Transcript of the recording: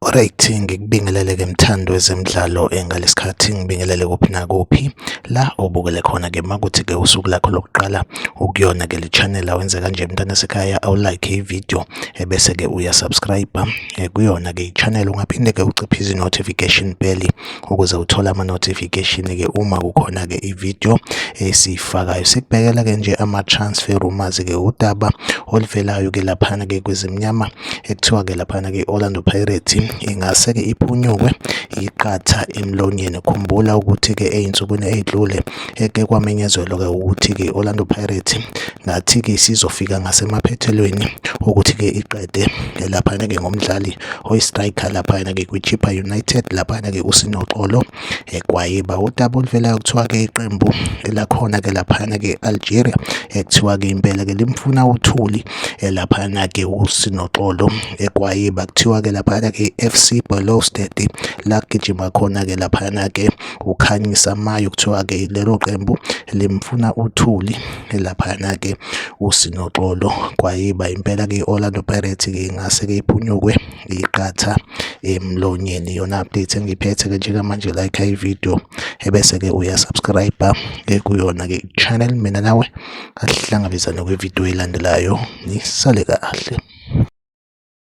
Alright, ngikubingelele ke mthando wezemidlalo engalesikhathi ngibingelele kuphi nakuphi la obukele khona ke makuthi ke usuku lakho lokuqala ukuyona ke le channel awenze kanje mntana sekhaya awu like i video ebese ke uya subscribe eh, kuyona ke i channel ungaphinde ke uciphe izi notification bell ukuze uthole ama-notification-ke uma kukhona-ke i-video esiyifakayo sikubhekela-ke nje ama-transfer rumors-ke udaba oluvelayo-ke laphana-ke kwezimnyama ekuthiwa-ke laphana-ke i-orlando pirate ingase-ke iphunyukwe iqatha emlonyeni khumbula ukuthi-ke ey'nsukwini ey'dlule eke kwamenyezelwa-ke ukuthi-ke i-orlando pirate ngathi-ke sizofika ngasemaphethelweni ukuthi-ke iqede laphana-ke ngomdlali oyi-striker laphayana-ke kwichippa united laphayana-ke usinoxolo egwayiba eh, udaba oluvelayo kuthiwa-ke iqembu elakhona-ke laphayana-ke algeria ekuthiwa-ke eh, impela-ke limfuna uthuli eh, laphayana-ke usinoxolo egwayiba kuthiwa-ke laphayana-ke i-f c bolostad lagijima khona-ke laphayana-ke ukhanyisa mayo kuthiwa-ke lelo qembu limfuna uthuli laphayana ke usinoxolo kwayiba impela ke Orlando Pirates ke ingase ke iphunyukwe iqatha emlonyeni yona update engiphethe ke njengamanje like i video ebese ke uya subscribe ke kuyona ke channel mina nawe asihlangabezane kwi video elandelayo nisale kahle